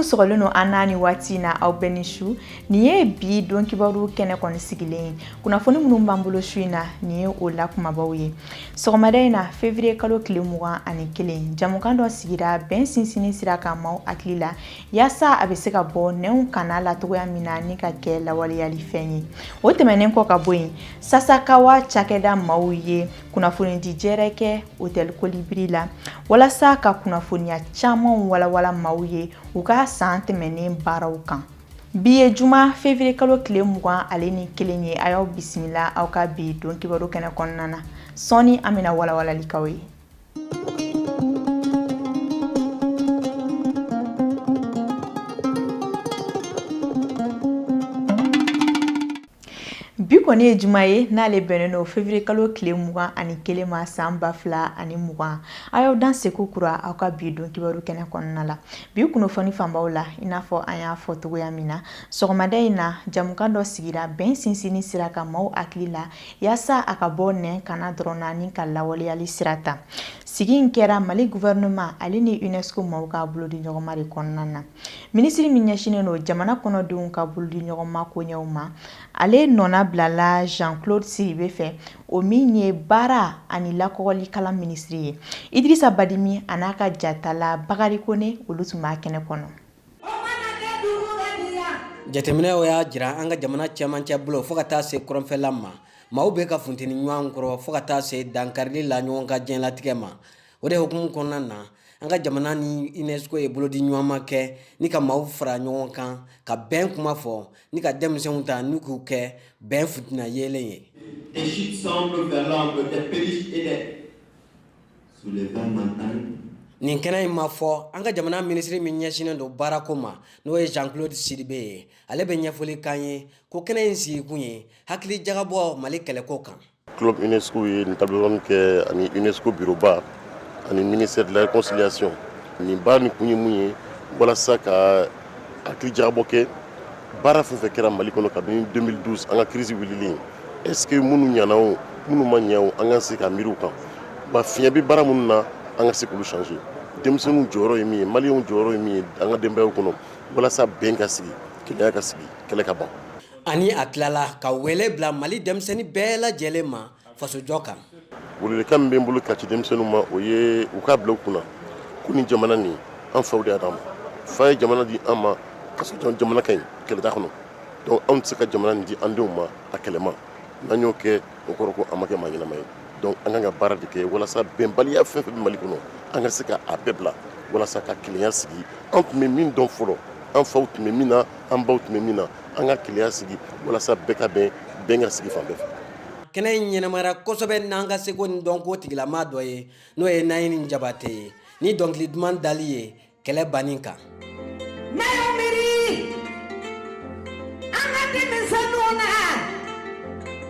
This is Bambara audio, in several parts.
sɔgɔlen don an n'a ni waati in na aw bɛɛ ni su nin ye bi don kibaru kɛnɛ kɔni sigilen ye kunnafoni minnu b'an bolo su in na nin ye o la kumabaw ye sɔgɔmada in na fevriye kalo tile mugan ani kelen jamukan dɔ sigira bɛn sinsinni sira kan maaw hakili la yaasa a bɛ se ka bɔ nɛnw kanna la cogoya min na ni ka kɛ lawaleyali fɛn ye o tɛmɛnen kɔ ka bɔ yen sasakawa cakɛda maaw ye kunnafonidi jɛrɛ kɛ hotɛli kolibiri la walasa ka kunnafoniya camanw walawala maaw ye u ka san tɛmɛnen baaraw kan Bi ye juma fevrier kalo tile mugan ale ni kelen ye a y'aw bisimila aw ka bi don kibaru kɛnɛ kɔnɔna na sɔɔni an bɛna walawalali k'aw ye. Bi kɔni ye juma ye n'ale bɛnnen don fevriye kalo tile mugan ani kelen ma san ba fila ani mugan a y'aw danse kokura aw ka bi don kibaru kɛnɛ kɔnɔna la bi kunnafoni fanbaw la i n'a fɔ an y'a fɔ cogoya min na sɔgɔmada in na jamukan dɔ sigira bɛn sinsinni sira kan maaw hakili la yaasa a ka bɔ nɛn kanna dɔrɔn na ni ka lawaleyali sira ta sigi in kɛra mali gouvernement ale ni unesco maaw ka bolo di ɲɔgɔnma de kɔnɔna na Minisiri min ɲɛsinnen don jamana kɔnɔdenw ka bolo di ɲɔgɔn ma koɲɛw ma ale nɔna bilala jean claude sidibe fɛ o min ye baara ani lakɔgɔli kalan minisiri ye idrisa badimi a n'a ka jatala bakari kone olu tun b'a kɛnɛ kɔnɔ jateminɛw y'a jira an ka jamana cɛmancɛ bolo fo ka taa se kɔrɔnfɛla ma maaw bɛ ka funteni ɲɔgɔn kɔrɔ fo ka taa se dankarili la ɲɔgɔn ka diɲɛlatigɛ ma o de hukumu kɔnɔna na an ka jamana ni unesco ye bolodi ɲɔgɔnma kɛ ni ka maaw fara ɲɔgɔn kan ka bɛn kuma fɔ ni ka denmisɛnw ta n'u k'u kɛ bɛn fitina yeelen ye nin kɛnɛ in ma fɔ an ka jamana minisiri min ɲɛsinnen don baarako ma n'o ye jean claude sidibe ye ale bɛ ɲɛfɔli kan ye ko kɛnɛ in sigikun ye hakili jagabɔ mali kɛlɛko kan club UNESCO ye nin table ronde kɛ ani UNESCO bureau ba ani ministère de la réconciliation nin baara nin kun ye mun ye walasa ka hakili jagabɔ kɛ baara fɛn fɛn kɛra mali kɔnɔ kabini 2012 an ka crise wulili est ce que minnu ɲana o minnu ma ɲɛ o an ka se ka miiri u kan wa fiɲɛ bɛ baara minnu na an ka se k'olu changer denmisɛnninw jɔyɔrɔ ye min ye maliyɛnw jɔyɔrɔ ye min ye an ka denbayaw kɔnɔ walasa bɛn ka sigi kelenya ka sigi kɛlɛ ka ban ani a tilala ka wele bila mali denmisɛnnin bɛɛ lajɛlen ma fasojɔ kan wele welekan min bɛ n bolo ka ci denmisɛnnin ma o ye u k'a bila u kunna ko ni jamana ni an faw de y'a d'an ma fa ye jamana di an ma ka sɔrɔ jamana ka ɲi kɛlɛ t'a kɔnɔ donc anw tɛ se ka jamana ni di an denw ma a kɛlɛma n'an y'o kɛ o kɔrɔ ko an ma kɛ maa ɲɛnama ye donc an kan ka baara de kɛ walasa bɛnbaliya fɛn fɛn bɛ mali kɔnɔ an ka se k' a bɛɛ bila walasa ka kelenya sigi an tun bɛ min dɔn fɔlɔ an faw tun bɛ min na an baw tun bɛ min na an ka kelenya sigi walasa bɛɛ ka bɛn bɛn ka sigi fan bɛɛ fɛ kɛnɛ in ɲɛnamara kosɛbɛ n'an ka seko ni dɔnko tigilama dɔ ye n'o ye nayini jabate ye ni dɔnkili duman dali ye kɛlɛ banni kan ne ye miiri an ka denmisɛnninw na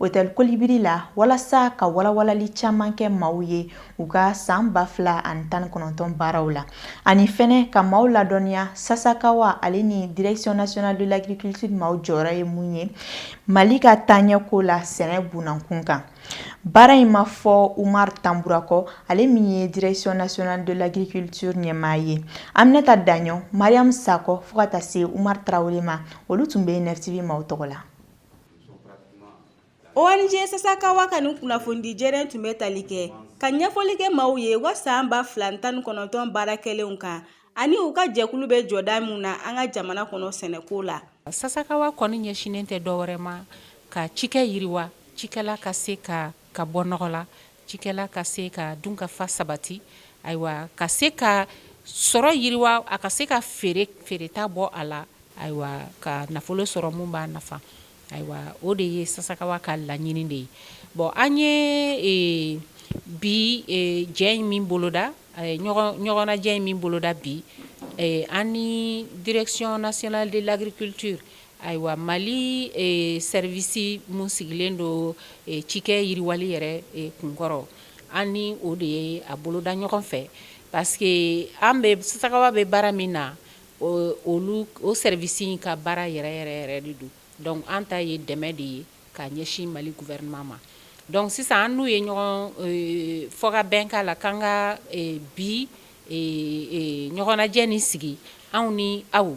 Otɛli kolibri la walasa ka walawalali caman kɛ maaw ye u ka san ba fila ani tan kɔnɔntɔn baaraw la ani fɛnɛ ka maaw ladɔnniya sasakawa ale ni direction nationale de l'agriculture maaw jɔyɔrɔ ye mun ye mali ka taaɲɛko la sɛnɛ bunda kunkan baara in ma fɔ umar tanbura kɔ ale min ye direction nationale de l'agriculture ɲɛmaa ye aminata daɲɔ mariam sakɔ fo ka taa se umar tarawele ma olu tun bɛ yen NFTV maaw tɔgɔ la ONG Sasakawa ka nin kunnafoni jɛrɛ in tun bɛ tali kɛ ka ɲɛfɔli kɛ maaw ye wa san ba fila ni tan ni kɔnɔntɔn baara kɛlenw kan ani u ka jɛkulu bɛ jɔda min na an ka jamana kɔnɔ sɛnɛko la Sasakawa kɔni ɲɛsinnen tɛ dɔwɛrɛ ma ka cikɛ yiriwa cikɛla ka se ka bɔ nɔgɔ la Cikɛla ka se ka dunkafa sabati ayiwa ka se ka sɔrɔ yiriwa a ka se ka feere feereta bɔ a la ayiwa ka nafolo sɔrɔ mun b'a nafa ayiwa o de ye sasakawa ka laɲini de ye bon an ye bi jɛ in min boloda ɲɔgɔnnajɛ in min boloda bi an ni direction nationale de l'agriculture Ayiwa mali service mun sigilen don cikɛ yiriwali yɛrɛ kunkɔrɔ an ni o de ye a boloda ɲɔgɔn fɛ parce que an bɛ sasakawa bɛ baara min na olu o service ka baara yɛrɛ yɛrɛ yɛrɛ de don donc an ta ye dɛmɛ de ye ka ɲɛsin mali gouvernement ma donc sisan an n'u ye ɲɔgɔn fɔ ka bɛn k'a la k'an ka bi ɲɔgɔnnajɛ ni sigi anw ni aw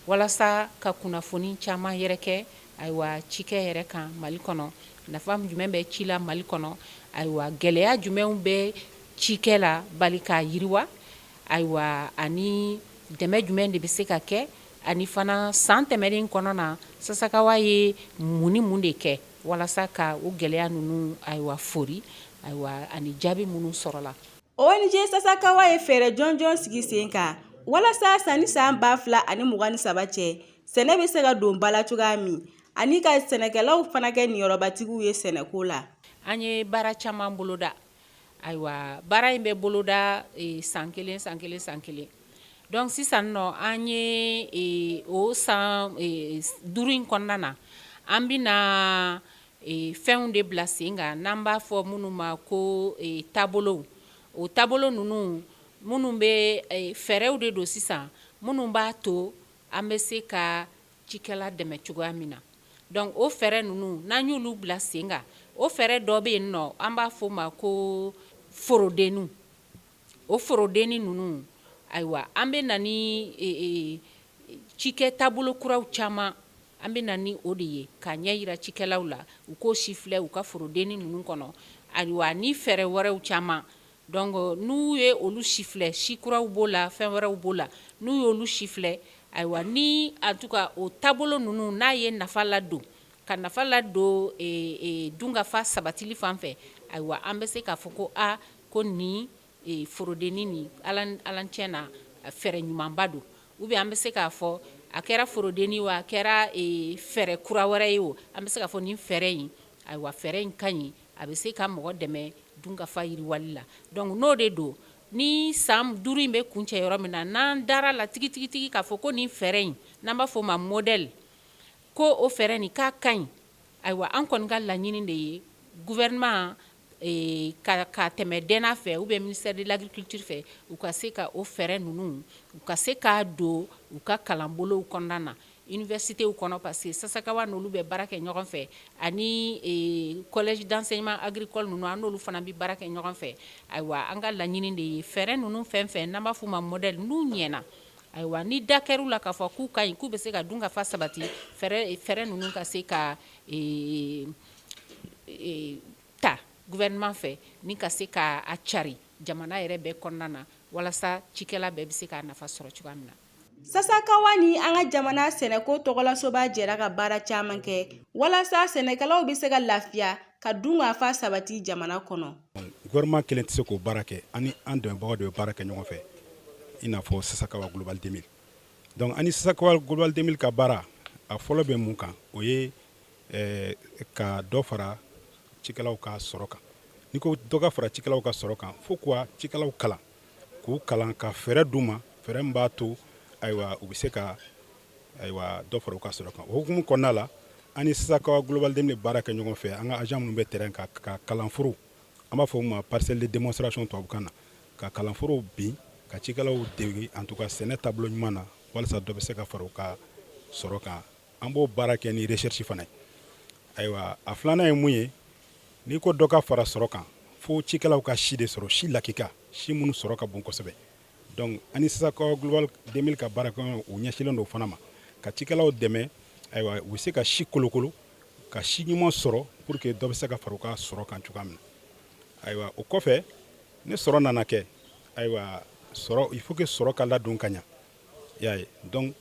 walasa ka kunnafoni caman yɛrɛkɛ ayiwa cikɛ yɛrɛ kan mali kɔnɔ nafa jumɛn bɛ ci la mali kɔnɔ ayiwa gɛlɛya jumɛnw bɛ cikɛla bali k'a yiriwa ayiwa ani dɛmɛ jumɛn de bɛ se ka kɛ Ani fana san tɛmɛnen kɔnɔna na sasakawa ye mun ni mun de kɛ walasa ka o gɛlɛya ninnu ayiwa foori ayiwa ani jaabi minnu sɔrɔla ONG sasakawa ye fɛɛrɛ jɔnjɔn sigi sen kan walasa sanni san ba fila ani mugan ni saba cɛ sɛnɛ bɛ se ka don ba la cogoya min ani ka sɛnɛkɛlaw fana kɛ niyɔrɔbatigiw ye sɛnɛko la an ye baara caman boloda Ayiwa baara in bɛ boloda san kelen san kelen san kelen donc sisan nɔ an ye o san duuru in kɔnɔna na an bɛna fɛnw de bila sen kan n'an b'a fɔ minnu ma ko taabolow o taabolo ninnu minnu bɛ fɛɛrɛw de don sisan minnu b'a to an bɛ se ka cikɛla dɛmɛ cogoya min na donc o fɛɛrɛ ninnu n'an y'olu bila sen kan o fɛɛrɛ dɔ bɛ yen nɔ an b'a fɔ ma ko forodenninw o forodennin ninnu ayiwa an bɛ na ni cikɛ taabolo kuraw caman an bɛ na ni o de ye k'a ɲɛyira cikɛlaw la u k'o sifilɛ u ka forodennin ninnu kɔnɔ ayiwa ni fɛɛrɛ wɛrɛw caman Donc n'u ye olu sifilɛ si kuraw b'o la fɛn wɛrɛw b'o la n'u ye olu sifilɛ ayiwa ni en tout cas o taabolo ninnu n'a ye nafa ladon ka nafa ladon dunkafa sabatili fan fɛ ayiwa an bɛ se k'a fɔ ko aa ko nin forodenini nin ala tiɲɛ na fɛɛrɛ ɲumanba don ou bien an bɛ se k'a fɔ a kɛra forodenini wa a kɛra fɛɛrɛ kura wɛrɛ ye o an bɛ se k'a fɔ nin fɛɛrɛ in ayiwa fɛɛrɛ in ka ɲi A bɛ se ka mɔgɔ dɛmɛ dunkafa yiriwali la donc n'o de don ni san duuru in bɛ kuncɛ yɔrɔ min na n'an dara la tigitigitigi k'a fɔ ko nin fɛɛrɛ in n'an b'a fɔ o ma modèle ko o fɛɛrɛ nin k'a ka ɲi ayiwa an kɔni ka laɲini de ye gouvernement ka tɛmɛ DNA fɛ ou bien ministère de l'agriculture fɛ u ka se ka o fɛɛrɛ ninnu u ka se k'a don u ka kalanbolow kɔnɔna na. Universitéw kɔnɔ parce que Sasakawa n'olu bɛ baara kɛ ɲɔgɔn fɛ ani ee collège d'enseignement agricole ninnu an n'olu fana be baara kɛ ɲɔgɔn fɛ ayiwa an ka laɲini de ye fɛɛrɛ ninnu fɛn-fɛn n'an b'a f'u ma modèle n'u ɲɛna ayiwa ni da kɛr'u la k'a fɔ k'u ka ɲi k'u be se ka dunkafa sabati fɛɛrɛ e fɛɛrɛ ninnu ka se ka ee e ta gouvernement fɛ ni ka se ka a cari jamana yɛrɛ bɛɛ kɔnɔna na walasa cikɛla bɛɛ be se k'a nafa sɔrɔ cogoya min na Sasakawa ni an ka jamana sɛnɛko tɔgɔlasoba jɛra ka baara caman kɛ walasa sɛnɛkɛlaw bɛ se ka lafiya ka dunkafa sabati jamana kɔnɔ. Gouvernement kelen tɛ se k'o baara kɛ ani an dɛmɛbagaw de bɛ baara kɛ ɲɔgɔn fɛ i n'a fɔ Sasakawa Global 2000 donc ani Sasakawa Global 2000 ka baara a fɔlɔ bɛ mun kan o ye eh, ka dɔ fara cikɛlaw ka sɔrɔ kan n'i ko dɔ ka fara cikɛlaw ka sɔrɔ kan fo kuwa cikɛlaw kalan k'u kalan ka fɛɛrɛ d'u ma fɛɛrɛ min b'a to ayiwa u bɛ se ka ayiwa dɔ fara u ka sɔrɔ kan o hukumu kɔnɔna la an ni Sasakawa Global 2000 baara kɛ ɲɔgɔn fɛ an ka agent minnu bɛ terrain kan ka kalanforo an b'a fɔ u ma parcelle de démonstration tubabukan na ka kalanforow bin ka cikɛlaw dege en tout cas sɛnɛ taabolo ɲuman na walasa dɔ bɛ se ka fara u ka sɔrɔ kan an b'o baara kɛ ni recherche fana ye ayiwa a filanan ye mun ye n'i ko dɔ ka fara sɔrɔ kan fo cikɛlaw ka si de sɔrɔ si lakika si minnu sɔrɔ ka bon kosɛbɛ donc an ni Sasakawa Global 2000 ka baarakɛɲɔgɔn u ɲɛsilen don fana ma ka cikɛlaw dɛmɛ ayiwa u bɛ se ka si kolokolo ka si ɲuman sɔrɔ pour que dɔ bɛ se ka fara u ka sɔrɔ kan cogoya min na ayiwa o kɔfɛ ni sɔrɔ nana kɛ ayiwa sɔrɔ il faut que sɔrɔ ka ladon ka ɲa y'a ye donc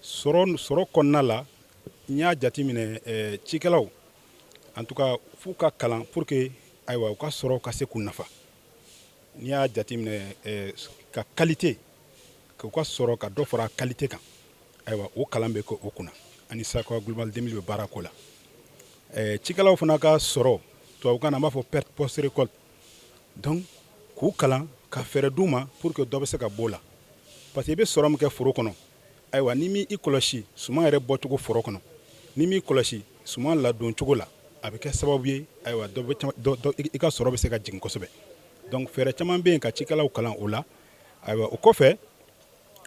sɔrɔ kɔnɔna la n y'a jateminɛ eh, cikɛlaw en tout cas f'u ka kalan pour que ayiwa u ka sɔrɔ ka se k'u nafa n'i y'a jateminɛ eh, ka qualité k'u ka sɔrɔ ka dɔ fara qualité kan ayiwa o kalan bɛ kɛ o kunna an ni Sasakawa Global 2000 bɛ baara k'o la eh, cikɛlaw fana ka sɔrɔ tubabukan na an b'a fɔ perte post récolte k'u kalan ka fɛɛrɛ d'u ma pour que dɔ bɛ se ka b'o la parce que i bɛ sɔrɔ min kɛ foro kɔnɔ ayiwa n'i m'i kɔlɔsi suman yɛrɛ bɔcogo foro kɔnɔ n'i m'i kɔlɔsi suman ladon cogo la a bɛ kɛ sababu ye ayiwa i ka sɔrɔ bɛ se ka jigin kosɛbɛ donc fɛɛrɛ caman bɛ yen ka cikɛlaw kalan o la ayiwa o kɔfɛ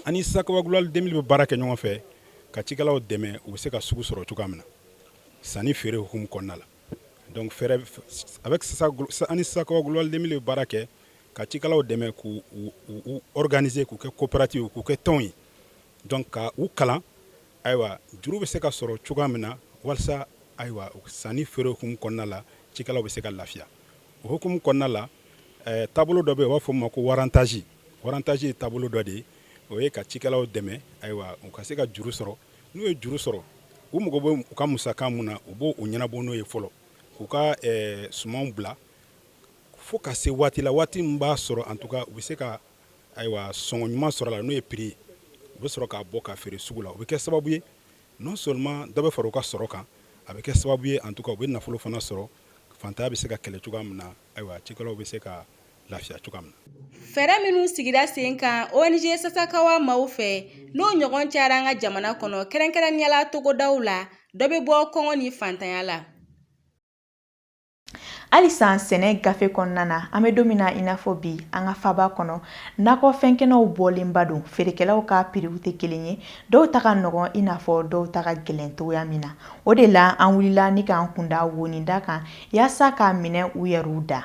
an ni Sasakawa Global 2000 bɛ baara kɛ ɲɔgɔn fɛ ka cikɛlaw dɛmɛ u bɛ se ka sugu sɔrɔ cogoya min na sanni feere hukumu kɔnɔna la Donc fɛɛrɛ avec an ni Sasakawa Global 2000 bɛ baara kɛ ka cikɛlaw dɛmɛ k'u organiser k'u kɛ coopérative ye k'u kɛ tɔnw ye donc ka u kalan ayiwa juru bɛ se ka sɔrɔ cogoya min na walasa ayiwa sanni feere hukumu kɔnɔna la cikɛlaw bɛ se ka lafiya o hukumu kɔnɔna la eh, taabolo dɔ bɛ yen u b'a fɔ o ma ko warrantage warrantage ye taabolo dɔ de ye o ye ka cikɛlaw dɛmɛ ayiwa u ka se ka juru sɔrɔ n'u ye juru sɔrɔ u mago bɛ u ka musaka mun na u b'o ɲɛnabɔ n'o ye fɔlɔ k'u ka eh, sumanw bila fo ka se waati la waati min b'a sɔrɔ en tout cas u bɛ se ka ayiwa sɔngɔ ɲuman sɔrɔ la n'o ye prix ye u bɛ sɔrɔ k'a bɔ ka feere sugu la o bɛ kɛ sababu ye non seulement dɔ bɛ fara u ka sɔrɔ kan a bɛ kɛ sababu ye en tout cas u bɛ nafolo fana sɔrɔ fantanya bɛ se ka kɛlɛ cogoya min na ayiwa cikɛlaw bɛ se ka lafiya cogoya min na fɛɛrɛ minnu sigira sen kan ONG Sasakawa maaw fɛ n'o ɲɔgɔn cayara an ka jamana kɔnɔ kɛrɛnkɛrɛnnenya la togodaw la dɔ bɛ bɔ kɔngɔ ni fantanya la halisa sɛnɛ gafe kɔnɔna na an bɛ don min na i n'a fɔ bi an ka faba kɔnɔ nakɔfɛn kɛnɛw bɔlenba don feerekɛlaw ka piriw tɛ kelen ye dɔw ta ka nɔgɔn i n'a fɔ dɔw ta ka gɛlɛn cogoya min na o de la an wulila ni k'an kunda woninda kan yaasa k'a minɛ u yɛrɛw da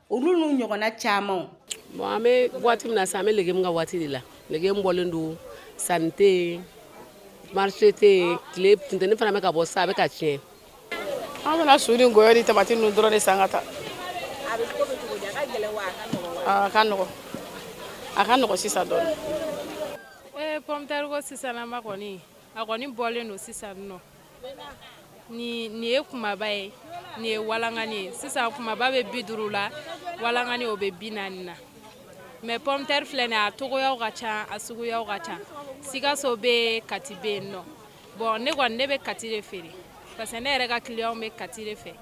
olu n'u ɲɔgɔnna caman bon an bɛ waati min na sisan an bɛ legemu ka waati de la legemu bɔlen don sanni tɛ yen marché tɛ yen tile funteni fana bɛ ka bɔ sisan a bɛ ka tiɲɛ an bɛna su ni ngɔyɔ ni tamati ninnu dɔrɔn de san ka taa a bɛ ko bɛ cogo di a ka gɛlɛn wa a ka nɔgɔ a ka nɔgɔ sisan dɔɔni ee pɔmutɛri ko sisanama kɔni a kɔni bɔlen don sisan nɔ ni nin ye kumaba ye nin ye walankani ye sisan kumaba bɛ bi duuru la walankani o bɛ bi naani na mɛ pɔmtɛri filɛ nin a togoyaw ka ca a suguyaw ka ca sikaso bɛ kati bɛ yen nɔ bɔn ne kɔni ne bɛ kati de feere parce que ne yɛrɛ ka kiliyanw bɛ kati de fɛ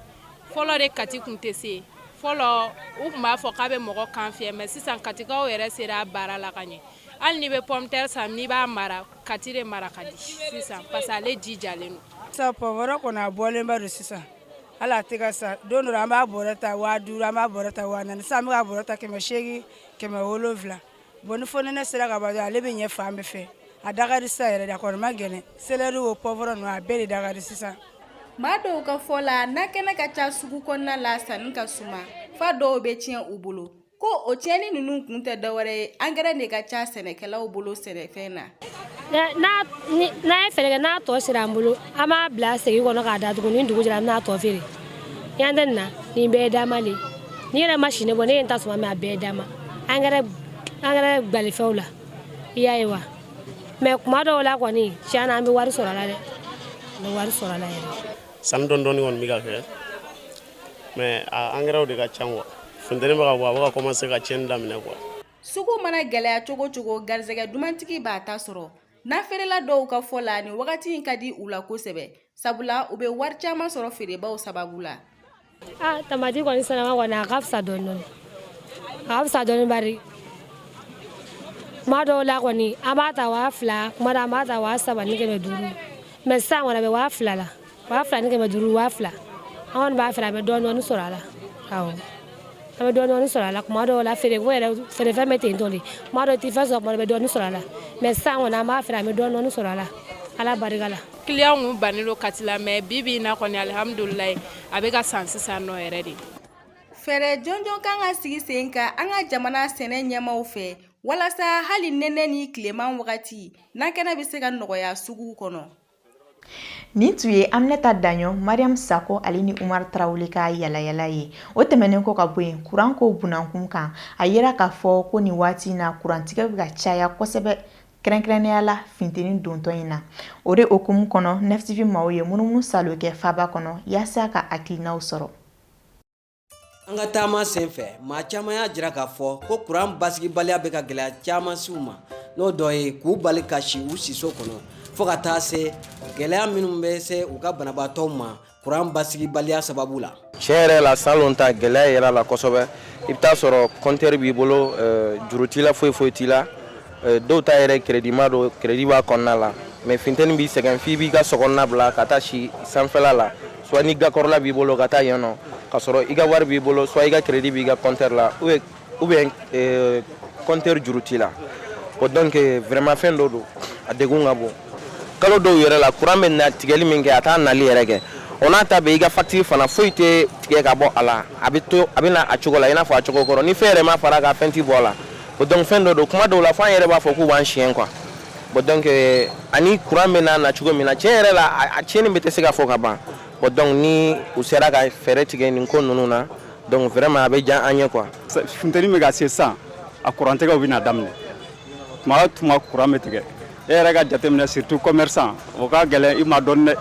fɔlɔ de kati kun tɛ se yen fɔlɔ u kun b'a fɔ k'a bɛ mɔgɔ kan fiyɛ mɛ sisan katikaw yɛrɛ sera a baara la ka ɲɛ hali n'i bɛ pɔmtɛri san n'i b'a mara kati de mara ka di sisan parce que ale ji jalen don sisan poivron kɔni a bɔlenba don sisan hali a tɛ ka san don dɔ an b'a bɔrɛ ta waa duuru an b'a bɔrɛ ta waa naani sisan an bɛ ka bɔrɛ ta kɛmɛ seegin kɛmɛ wolonwula bɔn ni fonɛnɛ sera ka ban dɔrɔn ale bɛ ɲɛ fan bɛɛ fɛ a da ka di sisan yɛrɛ de a kɔni ma gɛlɛn selɛri o poivron ninnu a bɛɛ de da ka di sisan maa dɔw ka fɔ la nakɛnɛ ka ca sugu kɔnɔna la sanni ka suma fo dɔw bɛ tiɲɛ u bolo ko o tiɲɛni ninnu kun tɛ dɔwɛrɛ ye angɛrɛ de ka ca sɛnɛkɛlaw bolo sɛnɛfɛn na n'an ye feere kɛ n'a tɔ sera an bolo an b'a bila segi kɔnɔ k'a datugu ni dugu jɛra an bɛ n'a tɔ feere yan tɛ nin na nin bɛɛ ye dama de ye n'i yɛrɛ ma sini bɔ ne ye n ta suma mɛ a bɛɛ ye dama angɛrɛ angɛrɛ gbalifɛnw la i y'a ye wa mɛ kuma dɔw la kɔni tiɲɛ na an bɛ wari sɔrɔ a la dɛ an bɛ wari sɔrɔ a la yɛrɛ sanni dɔɔni dɔɔni kɔni bɛ ka kɛ mais a angɛrɛw de ka ca quoi funteni bɛ ka bɔ a bɛ ka commencer ka tiɲɛni daminɛ quoi sugu mana gɛlɛya cogo cogo garisɛgɛ dumantigi b'a ta sɔrɔ nafeerela dɔw ka fɔ la nin wagati in ka di u la kosɛbɛ sabula u bɛ wari caman sɔrɔ feerebaw sababu la ah tamati kɔni sisanama kɔni a ka fisa dɔɔni dɔɔni a ka fisa dɔɔni bari kuma dɔw la kɔni an b'a ta waa fila kuma dɔ an b'a ta waa saba ni kɛmɛ duuru mɛ sisan kɔni a bɛ waa fila la waa fila ni kɛmɛ duuru waa fila an kɔni b'a feere an bɛ dɔɔni dɔɔni sɔrɔ a la awɔ an bɛ dɔɔni dɔɔni sɔrɔ a la tuma dɔw la feereko yɛrɛ feerefɛn bɛ ten tɔ de tuma dɔw i tɛ fɛn sɔrɔ tuma dɔ i bɛ dɔɔni sɔrɔ a la mais sisan kɔni an b'a feere an bɛ dɔɔni dɔɔni sɔrɔ a la ala barika la kiliyanw kun bannen don kati la mais bi bi in na kɔni alihamudulilayi a bɛ ka san sisan nɔ yɛrɛ de fɛɛrɛ jɔnjɔn kan ka sigi sen kan an ka jamana sɛnɛ ɲɛmaaw fɛ walasa hali nɛnɛ ni tileman wagati nakɛnɛ bɛ se ka nɔgɔya suguw kɔnɔ Nin tun ye aminata daɲɔ mariyam sakɔ ale ni umar tarawele ka yaalayaala ye o tɛmɛnen kɔ ka bɔ yen kuran ko bunakun kan a yira k'a fɔ ko nin waati in na kurantigɛ bɛ ka caya kosɛbɛ kɛrɛnkɛrɛnnenya la funteni dontɔ in na o de hukumu kɔnɔ nɛf tv maaw ye munumunusaalo kɛ faba kɔnɔ yaasa ka hakilinaw sɔrɔ An ka taama sen fɛ maa caman y'a jira k'a fɔ ko kuran basigibaliya bɛ ka gɛlɛya caman se u ma n'o dɔ ye k'u bali ka si u siso kɔnɔ fo ka taa se gɛlɛya minnu bɛ se u ka banabaatɔw ma kuran basigibaliya sababu la tiɲɛ yɛrɛ la salon ta gɛlɛya yɛrɛ la kosɛbɛ i bɛ taa sɔrɔ kɔntɛri b'i bolo juru t'i la foyi foyi t'i la Eh, dɔw ta yɛrɛ kredima don kredi b'a kɔnɔna la mɛ finteni b'i sɛgɛn f'i b'i ka sokɔnɔna bila ka taa si sanfɛla la swa ni gakɔrɔla b'i bolo ka taa yen nɔ ka sɔrɔ i ka wari b'i bolo swa i ka kredi b'i ka kɔntɛri la ou bien eh, kɔntɛri juru t'i la o donc vraiment fɛn dɔ don a degun ka bon kalo dɔw yɛrɛ la kuran bɛ na tigɛli min kɛ a t'a nali yɛrɛ kɛ o n'a ta bɛ i ka facture fana foyi tɛ tigɛ ka bɔ a la a bɛ to a bɛ na a cogo la i n'a fɔ a cogo kɔrɔ ni fɛn yɛrɛ ma fara a kan fɛn tɛ bɔ a la o donc fɛn dɔ don kuma dɔw la fo an yɛrɛ b'a fɔ k'u b'an siyɛn quoi bon donc euh, ani courant bɛ na na cogo min na tiɲɛ yɛrɛ la a tiɲɛni bɛɛ tɛ se ka fɔ ka ban bon donc ni u sera ka fɛɛrɛ tigɛ nin ko ninnu na donc vraiment a bɛ diya an ye quoi. funteni bɛ ka se sisan a kurantigɛw bɛ na daminɛ tuma o tuma kuran bɛ tigɛ. e yɛrɛ k'a jateminɛ surtout commerçant o ka gɛlɛn i ma dɔɔnin dɛ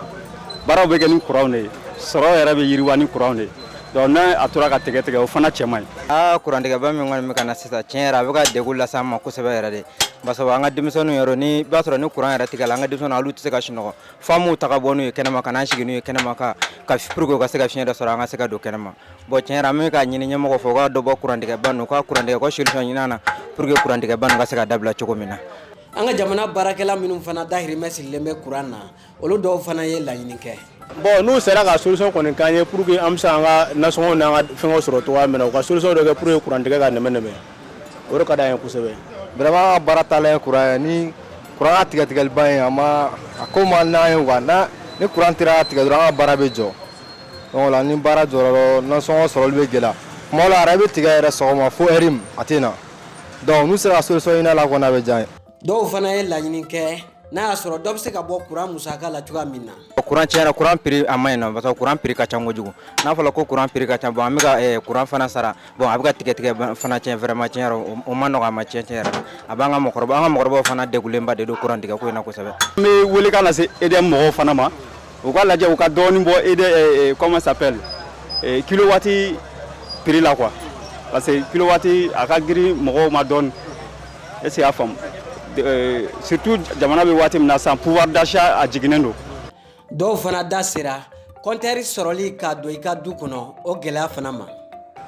baaraw bɛ kɛ ni kuran de ye sɔrɔ yɛrɛ bɛ yiriwa ni kuran de ye donc ni a tora ka tigɛ tigɛ o fana cɛ man ɲi aa kurantigɛba min kɔni bɛ ka na sisan tiɲɛ yɛrɛ a bɛ ka degun lase an ma kosɛbɛ yɛrɛ de parce que an ka denmisɛnninw yɛrɛ n'i b'a sɔrɔ ni kuran yɛrɛ tigɛla an ka denmisɛnninw olu tɛ se ka sunɔgɔ fo an b'u ta ka bɔ n'u ye kɛnɛma ka n'an sigi n'u ye kɛnɛma ka ka pour que u ka se ka fiɲɛ dɔ sɔrɔ an ka se ka don kɛnɛma bon tiɲɛ yɛrɛ an bɛ k'a ɲini ɲɛmɔgɔw fɛ u ka dɔ bɔ kurantigɛba ninnu u ka kurantigɛ u ka solution ɲini an na pour que kurantigɛba ninnu ka se ka dabila cogo min na An ka jamana baarakɛla minnu fana dahirimɛ sirilen bɛ kuran na olu dɔw fana ye laɲini kɛ. Bon n'u sera ka solution kɔni k'an ye pour que an bɛ se k'an ka nasɔngɔw n'an ka fɛngɛw sɔrɔ cogoya min na u ka solution dɔ kɛ pour que kuran tigɛ ka nɛmɛ nɛmɛ o de ka d'an ye kosɛbɛ. Vraiment an ka baara taalan ye kuran ye ni kuran ka tigɛtigɛliba in a ma a ko man d'an ye quoi n'a ni kuran sera ka tigɛ dɔrɔn an ka baara bɛ jɔ donc o la ni baara jɔra dɔrɔn nasɔngɔ sɔrɔli bɛ gɛlɛya tuma dɔw la a yɛrɛ bɛ tigɛ yɛrɛ sɔgɔma fo heure min a tɛ na. donc n'u sera ka solution ɲini a la kɔni a bɛ diya an ye dɔw fana ye laɲini kɛ n'a y'a sɔrɔ dɔ bɛ se ka bɔ kuran musaka la cogoya min na kuran tiɲɛ yɛrɛ kuran piri a man ɲi nɔ parce kuran piri ka ca kojugu n'a fɔra ko kuran piri ka ca bon an bɛ ka kuran fana sara bon a bɛ ka tigɛtigɛ fana tiɲɛ vraiment tiɲɛ yɛrɛ o man nɔgɔ an ma tiɲɛ yɛrɛ a b'an ka an ka mɔgɔkɔrɔbaw fana degunlenba de don kuran tigɛ ko in na kosɛbɛ n bɛ welekan lase EDM mɔgɔw fana ma u k'a lajɛ u ka dɔɔnin bɔ ede eh, eh, comment s'appelle eh, kilowatt prix la quoi parce que kilowatt a ka girin mɔgɔw ma dɔɔnin est-ce que i y'a faamu euh, surtout jamana bɛ waati min na sisan pouvoir d'achat a jiginnen don dɔw fana da sera kɔntɛri sɔrɔli ka don i ka du kɔnɔ o gɛlɛya fana ma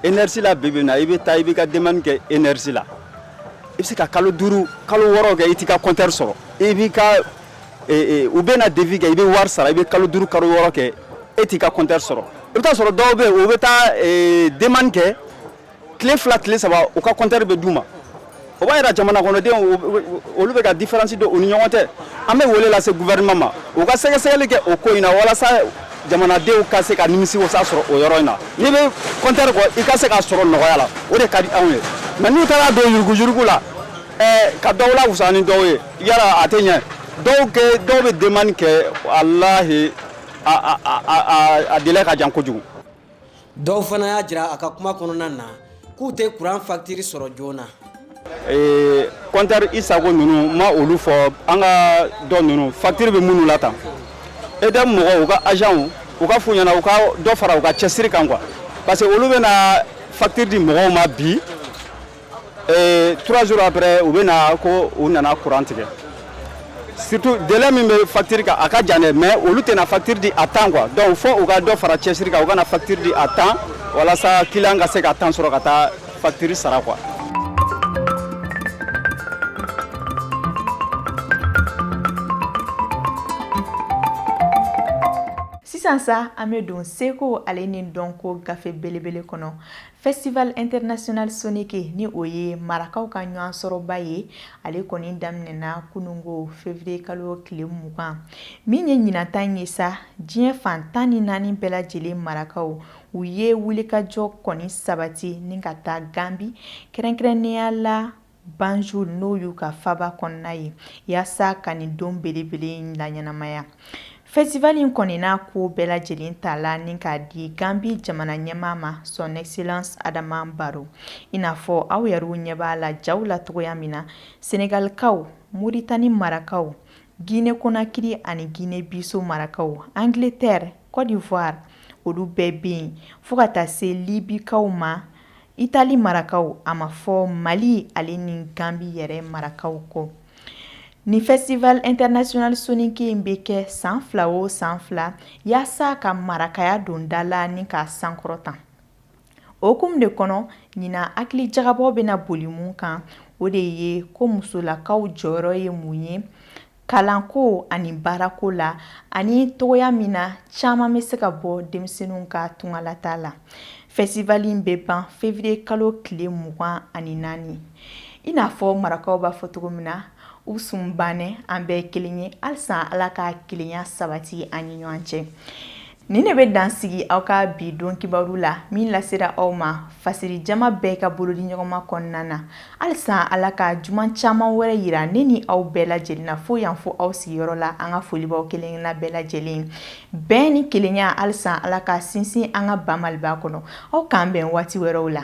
enersi la bi bi in na i bɛ taa i b'i ka demande kɛ enersi la i bɛ se ka kalo duuru kalo wɔɔrɔ kɛ i t'i ka kɔntɛri sɔrɔ i b'i ka u bɛ na devis kɛ i bɛ wari sara i bɛ kalo duuru kalo wɔɔrɔ kɛ e t'i ka compteur sɔrɔ i bɛ taa sɔrɔ dɔw bɛ yen u bɛ taa demande kɛ tile fila tile saba u ka compteur bɛ d'u ma o b'a jira jamana kɔnɔdenw olu bɛ ka différence don u ni ɲɔgɔn tɛ an bɛ wele lase gouvernement ma u ka sɛgɛsɛgɛli kɛ o ko in na walasa jamanadenw ka se ka nimisiwasa sɔrɔ o yɔrɔ in na n'i bɛ compteur kɔ i ka se k'a sɔrɔ nɔgɔya la o de ka di anw ye nka n'u taara don yuruguyurugu la ɛɛ ka dɔw la wusa ni dɔw ye yala a tɛ ɲɛ dɔw kɛ dɔw bɛ demande kɛ walahi a délai ka jan kojugu. dɔw fana y'a jira a ka kuma kɔnɔna na k'u tɛ kuran facture sɔrɔ joona. ee compteur isago ninnu ma olu fɔ an ka dɔ ninnu facture bɛ minnu la tan EDM mɔgɔw u ka agentw u ka f'u ɲɛna u ka dɔ fara u ka cɛsiri kan quoi parce que olu bɛna facture di mɔgɔw ma bi. trois jours après u bɛ na ko u nana courant tigɛ surtout délai min bɛ facture kan a ka jan dɛ mais olu tɛna facture di à temps quoi donc fo u ka dɔ fara cɛsiri kan u ka na facture di à temps walasa client ka se ka temps sɔrɔ ka taa facture sara quoi sisan sa an bɛ don seko ale ni dɔnko gafe belebele kɔnɔ Festival international soninké ni o ye marakaw ka ɲɔgɔn sɔrɔba ye ale kɔni daminɛna kununko février kalo tile mugan min ye ɲinan ta in ye sa diɲɛ fan tan ni naani bɛɛ lajɛlen marakaw u ye wulikajɔ kɔni sabati ni ka taa Gambie kɛrɛnkɛrɛnnenya la Banjul n'o y'u ka faaba kɔnɔna ye yaasa ka nin don belebele in laɲɛnamaya festival in kɔni n'a ko bɛɛ lajɛlen ta la ni k'a di Gambie jamana ɲɛmaa ma son excellence Adama Barrow i n'a fɔ aw yɛrɛw ɲɛ b'a la jaw la cogoya min na Senegalikaw Mauritanie marakaw Guinée Conakry ani Guinée Bissau marakaw Angleterre Côte d'Ivoire olu bɛɛ bɛ yen fo ka taa se Libikaw ma Italie marakaw a ma fɔ Mali ale ni Gambie yɛrɛ marakaw kɔ nin festival international soninké in bɛ kɛ san fila o san fila yaasa ka marakaya don da la ni k'a sankɔrɔta o hukumu de kɔnɔ ɲinan hakili jagabɔ bɛ na boli mun kan o de ye ko musolakaw jɔyɔrɔ ye mun ye kalanko ani baarako la ani cogoya min na caman bɛ se ka bɔ denmisɛnninw ka tungalataa la festival in bɛ ban fevriye kalo tile mugan ani naani i n'a fɔ marakaw b'a fɔ cogo min na u sun bannɛ an bɛɛ kelen ye halisa ala ka kelenya sabati an ni ɲɔgɔn cɛ Nin de bɛ dansigi aw ka bi don kibaru la min lasera aw ma fasiri jama bɛɛ ka bolo di ɲɔgɔnma kɔnɔna na halisa ala ka juma caman wɛrɛ yira ne ni aw bɛɛ lajɛlen na fo yan fo aw sigiyɔrɔ la an ka folibaw kelen na bɛɛ lajɛlen bɛn ni kelenya halisa ala ka sinsin an ka ba Maliba kɔnɔ aw k'an bɛn waati wɛrɛw la